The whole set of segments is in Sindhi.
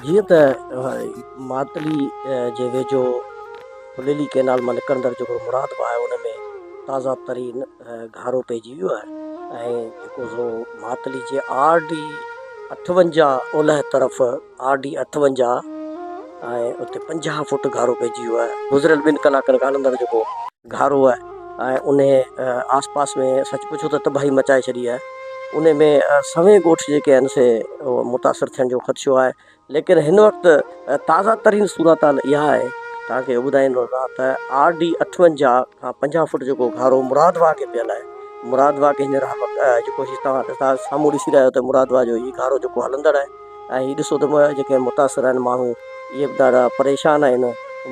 جيئن ته ماتلي جي ويجهو ڦليلي ڪئنال مان نڪرندڙ جيڪو مراد باھ آهي ان ۾ تازه ترين گهارو پئجي ويو آهي ۽ جيڪو سو ماتلي جي آر ڊي اٺونجاهه اولهه طرف آر ڊي اٺونجاهه ۽ اتي پنجاهه فوٽ گهارو پئجي ويو آهي گذريل ٻن ڪلاڪن کان ان اندر جيڪو گهارو آهي ۽ انهيء آس پاس ۾ سچ پڇو ته تباهي مچائي ڇڏي آهي. انهيء ۾ سوين ڳوٺ جيڪي آهن سي متاثر ٿيڻ جو خدشو آهي. ليڪن هن وقت تازه ترين صورتحال اها آهي، توهان کي ٻڌائيندو رهان ته آر ڊي اٺونجاهه کان پنجاهه فوٽ جيڪو گهارو مراد واهه کي پيل آهي، مراد واهه کي هينئر هر وقت جيڪو هي توهان سامهون ڏسي رهيا آهيو ته مراد واهه جو هي گهارو جيڪو هلندڙ آهي، ۽ هي ڏسو ته جيڪي متاثر آهن ماڻهو اهي به ڏاڍا پريشان آهن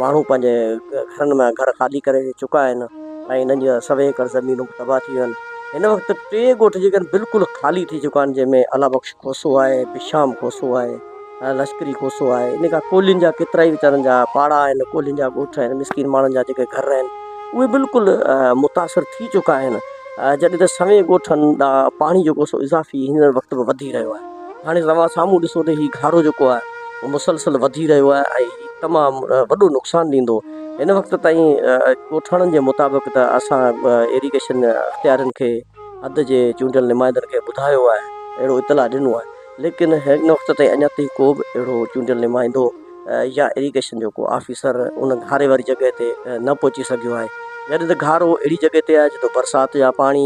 ماڻهو پنهنجي گهرن ۾ گهر خالي ڪري چڪا آهن ۽ انهن جا سوين ايڪڙ زمينون به تباهه ٿي ويون آهن هن وقت ٽي ڳوٺ جيڪي آهن بلڪل خالي ٿي چڪا آهن جنهن ۾ الله بخش کوسو آهي بشام کوسو آهي ۽ لشڪري کوسو آهي ان کان ڪولهين جا ڪيترا ئي ويچارن جا پاڙا آهن ڪولهين جا ڳوٺ آهن مسڪين ماڻهن جا جيڪي گهر آهن اهي بلڪل متاثر ٿي چڪا آهن جڏهن ته سوين ڳوٺن ڏانهن پاڻي جيڪو سو اضافي هينئر وقت به وڌي رهيو آهي هاڻي توهان سامهون ڏسو ته هي گهارو جيڪو آهي اهو مسلسل وڌي رهيو آهي ۽ هي تمام وڏو نقصان ڏيندو. هن وقت تائين ڳوٺاڻن جي مطابق ته اسان ايريگيشن اختيارين کي حد جي چونڊيل نمائندن کي ٻڌايو آهي اهڙو اطلاع ڏنو آهي ليڪن هن وقت تائين اڃا تائين ڪو به اهڙو چونڊيل نمائندو يا ايريگيشن جو ڪو آفيسر ان گهاري واري جڳهه تي نه پهچي سگهيو آهي جڏهن ته گهارو اهڙي جڳهه تي آهي جتي برسات جا پاڻي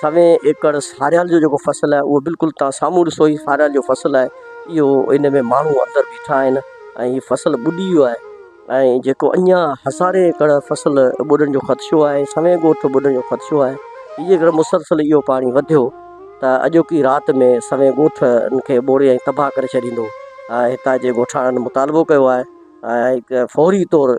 سوين ايڪڙ ساريال جو جيڪو فصل آهي اهو بلڪل تان سامهون ڏسو هي ساريال جو فصل آهي اهو ان ۾ ماڻهو اندر بيٺا آهن ۽ هي فصل ٻڏي ويو آهي ۽ جيڪو اڃا هزارين ايڪڙ فصل ٻڏڻ جو خدشو آهي سوين ڳوٺ ٻڏڻ جو خدشو آهي هي جيڪر مسلسل اهو پاڻي وڌيو ته اڄوڪي رات ۾ سوين ڳوٺ ان کي ٻوڙي ۽ تباهه ڪري ڇڏيندو هتان جي ڳوٺاڻن مطالبو ڪيو آهي فوري طور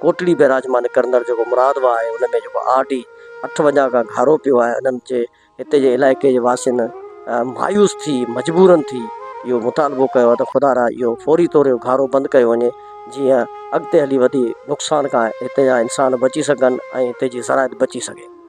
ڪوٽڙي بيراجمان ڪرندڙ جيڪو مراد واهه آهي ان ۾ جيڪو آر ڊي اٺ وڃان کان گهارو پيو آهي انهن جي هتي جي علائقي جي واسين مايوس ٿي مجبورن ٿي اهو مطالبو ڪيو آهي ته خدا را اهو فوري طور اهو گهارو بند ڪيو وڃي جيئن اڳتي هلي وڌي نقصان کان هتي جا انسان بچي سگهن ۽ هتي جي زراعت بچي سگهي.